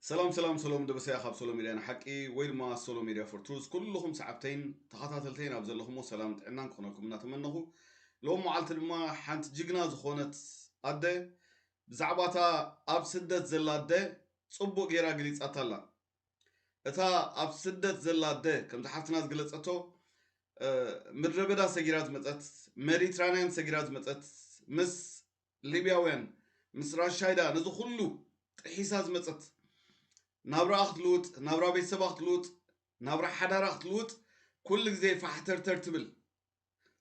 ሰላም ሰላም ሰሎም ደበሰያ ካብ ሶሎ ሚድያ ንሓቂ ወይ ድማ ሶሎ ሚድያ ፎር ትሩዝ ኩልኹም ሰዓብተይን ተኸታተልተይን ኣብ ዘለኹሞ ሰላም ጥዕናን ክኾነኩም እናተመነኹ ሎም መዓልቲ ድማ ሓንቲ ጅግና ዝኾነት ኣደ ብዛዕባ እታ ኣብ ስደት ዘላ ኣደ ፅቡቅ ገይራ ገሊፃታ ኣላ እታ ኣብ ስደት ዘላ ኣደ ከምዚ ሓፍትና ዝገለጸቶ ምድረ በዳ ሰጊራ ዝመፀት ሜዲትራንያን ሰጊራ ዝመፀት ምስ ሊብያውያን ምስ ራሻይዳ ነዚ ኩሉ ጥሒሳ ዝመፀት ናብራኣ ክትልውጥ ናብራ ቤተሰባ ክትልውጥ ናብራ ሓዳራ ክትልውጥ ኩሉ ግዜ ፋሕተርተር ትብል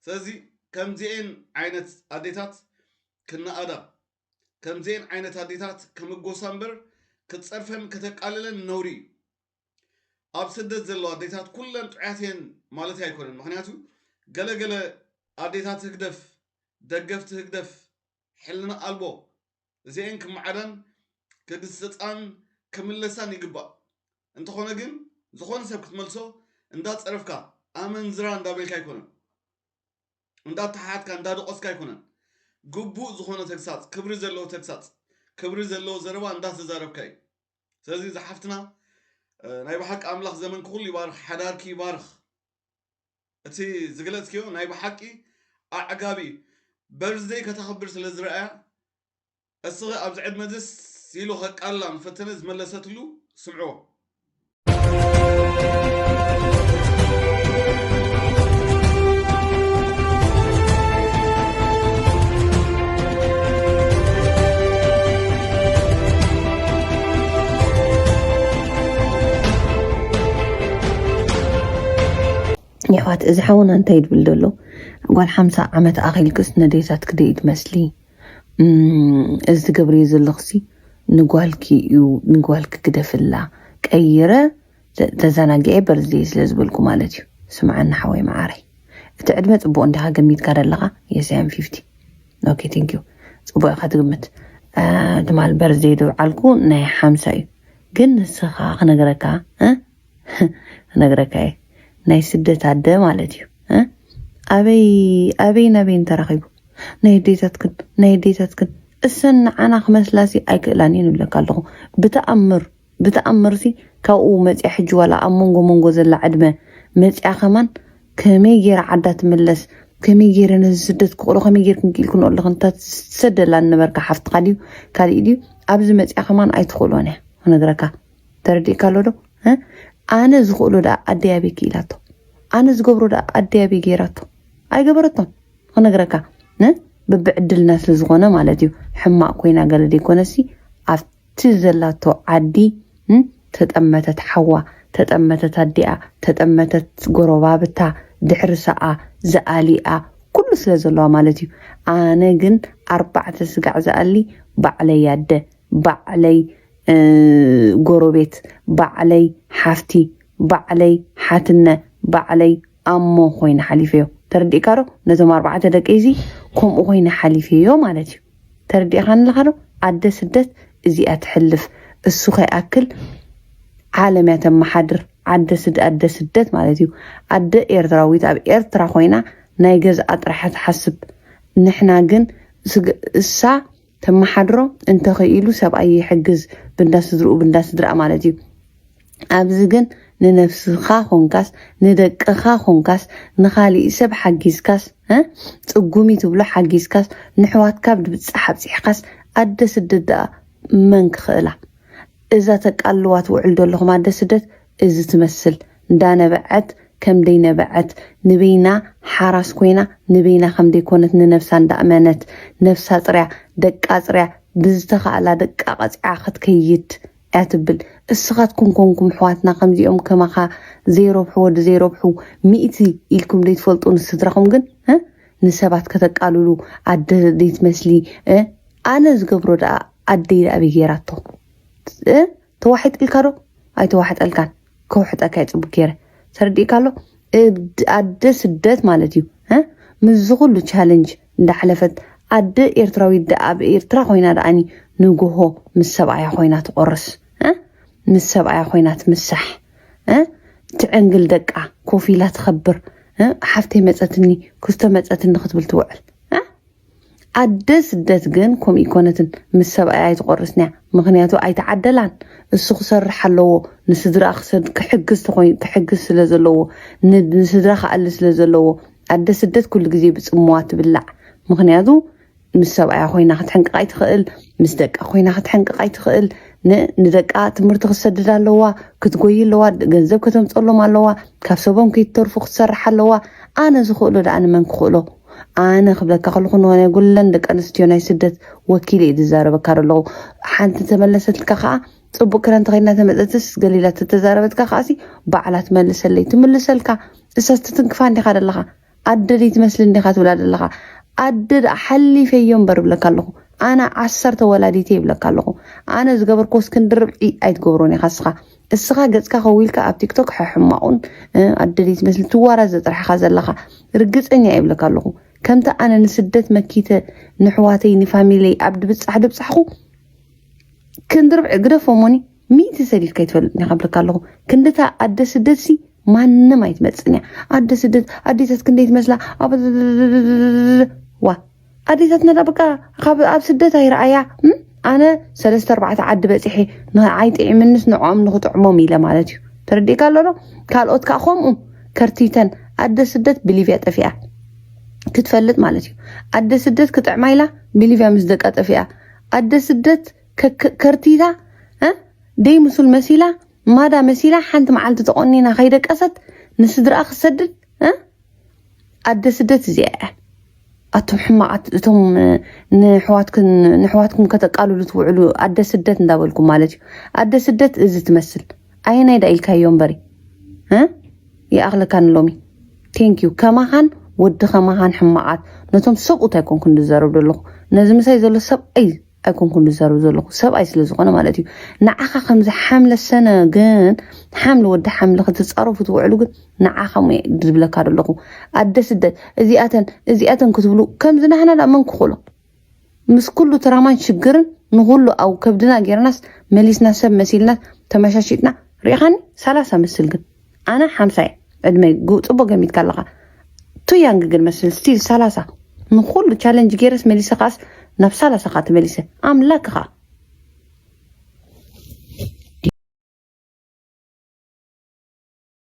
ስለዚ ከምዚኤን ዓይነት ኣዴታት ክነኣዳ ከምዚኤን ዓይነት ኣዴታት ክምጎሳ እምበር ክትጸርፈን ከተቃልለን ነውሪ እዩ። ኣብ ስደት ዘለዋ ኣዴታት ኩለን ጥዑያት እየን ማለተይ ኣይኮነን ምኽንያቱ ገለ ገለ ኣዴታት ህግደፍ ደገፍቲ ህግደፍ ሕልና ኣልቦ እዚኤን ክመዓዳን ክግስጻን ክምለሳን ይግባእ እንተኾነ ግን ዝኾነ ሰብ ክትመልሶ እንዳጸረፍካ ኣመንዝራ እንዳበልካ ኣይኮነን እንዳተሓሓትካ እንዳደቖስካ ኣይኮነን ግቡእ ዝኾነ ተግሳጽ ክብሪ ዘለዎ ተግሳጽ ክብሪ ዘለዎ ዘረባ እንዳተዛረብካ እዩ ስለዚ እዚ ሓፍትና ናይ ብሓቂ ኣምላኽ ዘመንኪ ኩሉ ይባርኽ ሓዳርኪ ይባርኽ እቲ ዝግለጽክዮ ናይ ብሓቂ ኣዕጋቢ እዩ በርዝደይ ከተኽብር ስለ ዝረኣያ እስኺ ኣብዚ ዕድመ እዚስ ኢሉ ከቃልላ ምፈተነ ዝመለሰትሉ ስምዕዎ። የሕዋት እዚ ሓውና እንታይ ድብል ደሎ ጓል ሓምሳ ዓመት ኣኺልክስ ነዴታት ክደይ ትመስሊ እዚ ትገብርዮ ዘለኽሲ ንጓልኪ እዩ ንጓልኪ ግደፍላ ቀይረ ተዘናጊዐ በርዝደይ ስለ ዝበልኩ ማለት እዩ ስምዓኒ ሓወይ መዓረይ እቲ ዕድመ ፅቡቅ እንዲኻ ገሚትካ ደለኻ የስ ኣም ፊፍቲ ኦኬ ቴንክ ዩ ፅቡቅ ኢኻ ትግምት ትማል በርዝደይ ድብዓልኩ ናይ ሓምሳ እዩ ግን ንስኻ ክነገረካ ክነግረካ እየ ናይ ስደት ኣደ ማለት እዩ እ ኣበይ ኣበይን ኣበይን ተራኺቡ ናይ ኣዴታትክን ናይ ኣዴታትክን እሰን ንዓና ክመስላሲ ኣይክእላን እየን ይብለካ ኣለኹ ብተኣምር ብተኣምርሲ ካብኡ መፅያ ሕጂ ዋላ ኣብ መንጎ መንጎ ዘላ ዕድመ መፅያ ከማን ከመይ ገይራ ዓዳ ትምለስ ከመይ ገይረ ነዚ ስደት ክቕሮ ከመይ ገይርክን ክኢልክን ኣለኹ እንታ ትሰደላ ንነበርካ ሓፍትኻ ድዩ ካሊእ ድዩ ኣብዚ መፅያ ከማን ኣይትኽእሎን እያ ክነግረካ ተረዲእካ ኣሎ ዶ እ? ኣነ ዝኽእሎ ደኣ ኣደይ ኣበይ ክኢላቶ ኣነ ዝገብሮ ደኣ ኣደይ ኣበይ ገይራቶ ኣይገበረቶን ክነግረካ ን ብብዕድልና ስለ ዝኾነ ማለት እዩ ሕማቅ ኮይና ገለ ዘይኮነሲ ኣብቲ ዘላቶ ዓዲ ን ተጠመተት ሓዋ ተጠመተት ኣዲኣ ተጠመተት ጎረባብታ ድሕሪ ሰኣ ዝኣሊኣ ኩሉ ስለ ዘለዋ ማለት እዩ ኣነ ግን ኣርባዕተ ስጋዕ ዝኣሊ ባዕለይ ኣደ ባዕለይ ጎረቤት ባዕለይ ሓፍቲ ባዕለይ ሓትነ ባዕለይ ኣሞ ኮይነ ሓሊፈዮ ተረዲእካ ዶ ነቶም ኣርባዕተ ደቀይ እዚ ከምኡ ኮይነ ሓሊፈዮ ማለት እዩ ተረዲእካ ኣለካ ዶ ኣደ ስደት እዚኣ ትሕልፍ እሱ ከይኣክል ዓለም እያ ተመሓድር ዓደ ስድ ኣደ ስደት ማለት እዩ ኣደ ኤርትራዊት ኣብ ኤርትራ ኮይና ናይ ገዝኣ ጥራሕያ ትሓስብ ንሕና ግን እሳ ተማሓድሮ እንተክኢሉ ሰብኣይ ይሕግዝ ብንዳ ስድርኡ ብንዳ ስድርኣ ማለት እዩ ኣብዚ ግን ንነፍስኻ ኮንካስ ንደቅኻ ኮንካስ ንኻሊእ ሰብ ሓጊዝካስ ፅጉሚ ትብሎ ሓጊዝካስ ንሕዋትካ ብድብፃሕ ኣብፂሕካስ ኣደ ስደት ደኣ መን ክኽእላ እዛ ተቃልዋ ትውዕል ዘለኹም ኣደ ስደት እዚ ትመስል እንዳነበዐት ከምደይ ነበዐት ንበይና ሓራስ ኮይና ንበይና ከምደይ ኮነት ንነብሳ እንዳእመነት ነብሳ ጽርያ ደቃ ኣጽርያ ብዝተካእላ ደቃ ቀጺዓ ክትከይድ እያ ትብል እስኻትኩም ኮንኩም ኣሕዋትና ከምዚኦም ከማኻ ዘይረብሑ ወዲ ዘይረብሑ ሚእቲ ኢልኩም ደይትፈልጡ ንስድራኹም ግን እ ንሰባት ከተቃልሉ ኣደ ደይትመስሊ እ ኣነ ዝገብሮ ደኣ ኣደይ ኣበይ ጌራቶ እ ተዋሒጥልካ ዶ ኣይተዋሕጠልካን ከውሕጠካ ይፅቡቅ ገይረ ተረዲእካ ኣሎ እብድ ኣደ ስደት ማለት እዩ ምዝ ኩሉ ቻለንጅ እንዳሕለፈት ኣደ ኤርትራዊት ደኣ ኣብ ኤርትራ ኮይና ደኣኒ ንግሆ ምስ ሰብኣያ ኮይና ትቆርስ ምስ ሰብኣያ ኮይና ትምሳሕ ትዕንግል ደቃ ኮፍ ኢላ ትኸብር ሓፍተይ መፀትኒ ክስቶ መፀትኒ ክትብል ትውዕል ኣደ ስደት ግን ኮም ኢኮነትን ምስ ሰብኣያ ኣይትቆርስንያ ምክንያቱ ኣይተዓደላን እሱ ክሰርሕ ኣለዎ ንስድርኣ ክሰድ ክሕግዝ ተኮይኑ ክሕግዝ ስለ ዘለዎ ንስድራ ክኣሊ ስለ ዘለዎ ኣደ ስደት ኩሉ ግዜ ብጽምዋ ትብላዕ ምክንያቱ ምስ ሰብኣያ ኮይና ክትሕንቅቕ ኣይትኽእል ምስ ደቃ ኮይና ክትሕንቅቕ ኣይትኽእል ንደቃ ትምህርቲ ክትሰድድ ኣለዋ ክትጎይ ኣለዋ ገንዘብ ከተምፀሎም ኣለዋ ካብ ሰቦም ከይትተርፉ ክትሰርሕ ኣለዋ ኣነ ዝኽእሎ ደኣ ንመን ክኽእሎ ኣነ ክብለካ ከለኹ ንሆነ ጉለን ደቂ ኣንስትዮ ናይ ስደት ወኪል እየ ዝዛረበካ ዘለኹ ሓንቲ ተመለሰትልካ ከዓ ፅቡቅ ክዳን ተኸይና ተመፀትስ ገሊላ ተተዛረበትካ ከዓሲ ባዕላ ትመልሰለይ ትምልሰልካ እሳስ ትትንክፋ እንዲኻ ዘለኻ ኣደደይ ትመስሊ እንዲኻ ትብላ ዘለኻ ኣደ ደኣ ሓሊፈዮ እምበር ብለካ ኣለኹ ኣነ ዓሰርተ ወላዲተይ ይብለካ ኣለኹ ኣነ ዝገበርክዎስ ክንድርብዒ ኣይትገብሮን ኢኻ እስኻ እስኻ ገጽካ ከዊልካ ኣብ ቲክቶክ ሕሕማቑን ኣደልይ ትመስል ትዋራዘ ጥራሕኻ ዘለኻ ርግጸኛ ይብለካ ኣለኹ ከምቲ ኣነ ንስደት መኪተ ንሕዋተይ ንፋሚለይ ኣብ ድብጻሕ ድብጻሕኹ ክንዲ ርብዒ ግደፎሞኒ ሚእቲ ሰዲድካ ይትፈልጥ ኒኻ ብልካ ኣለኹ ክንድታ ኣደ ስደት ሲ ማንም ኣይትመፅን እያ ኣደ ስደት ኣዴታት ክንደይ ትመስላ ዋ ኣዴታትና ዳ በቃ ካብ ኣብ ስደት ኣይረኣያ እም፣ ኣነ ሰለስተ ኣርባዕተ ዓዲ በፂሐ ንዓይ ጥዒምንስ ንዕኦም ንክጥዕሞም ኢለ ማለት እዩ ተረዲእካ ኣሎ ዶ ካልኦት ከዓ ከምኡ ከርቲተን ኣደ ስደት ብሊብያ ጠፊኣ ክትፈልጥ ማለት እዩ ኣደ ስደት ክጥዕማ ኢላ ብሊብያ ምስ ደቃ ጠፊኣ ኣደ ስደት ከ- ከ- ከርቲታ እ? ደይ ምስል መሲላ ማዳ መሲላ ሓንቲ መዓልቲ ተቆኒና ከይደቀሰት ንስድራኣ ክትሰድድ እ? ኣደ ስደት እዚኣ እያ ኣቱም ሕማቃት እቶም ንሕዋትኩም ከተቃልሉ ትውዕሉ ኣደ ስደት እንዳበልኩም ማለት እዩ ኣደ ስደት እዚ ትመስል ኣየናይ ዳ ኢልካዮ እምበሪ ይኣኽለካ ንሎሚ ቴንኪዩ ከማኻን ወዲ ከማኻን ሕማቃት ነቶም ሰብኡት ኣይኮንኩ ዝዘረብ ዘለኹ ነዚ ምሳይ ዘሎ ሰብኣይ ኣይኮንኩን ዝዛረብ ዘለኹ ሰብኣይ ስለ ዝኾነ ማለት እዩ ንዓኻ ከምዚ ሓምለ ሰነ ግን ሓምሊ ወዲ ሓምሊ ክትፃረፉ ትውዕሉ ግን ንዓኻ ሞ ዝብለካ ዘለኹ ኣደ ስደት እዚኣተን እዚኣተን ክትብሉ ከምዚ ናህና ዳ መን ክኽእሎ ምስ ኩሉ ትራማን ሽግርን ንኩሉ ኣብ ከብድና ጌርናስ መሊስና ሰብ መሲልና ተመሻሽጥና ሪኢኻኒ ሰላሳ መስል ግን ኣነ ሓምሳይ ዕድመይ ግ- ፅቡቅ ገሚትካ ኣለካ ቱ ያንግ ግን መስል ስቲል ሰላሳ ንኩሉ ቻለንጅ ገይረስ መሊሰ ከዓስ ናብ ሰላሳ ከዓ ተመሊሰ ኣምላክ ከዓ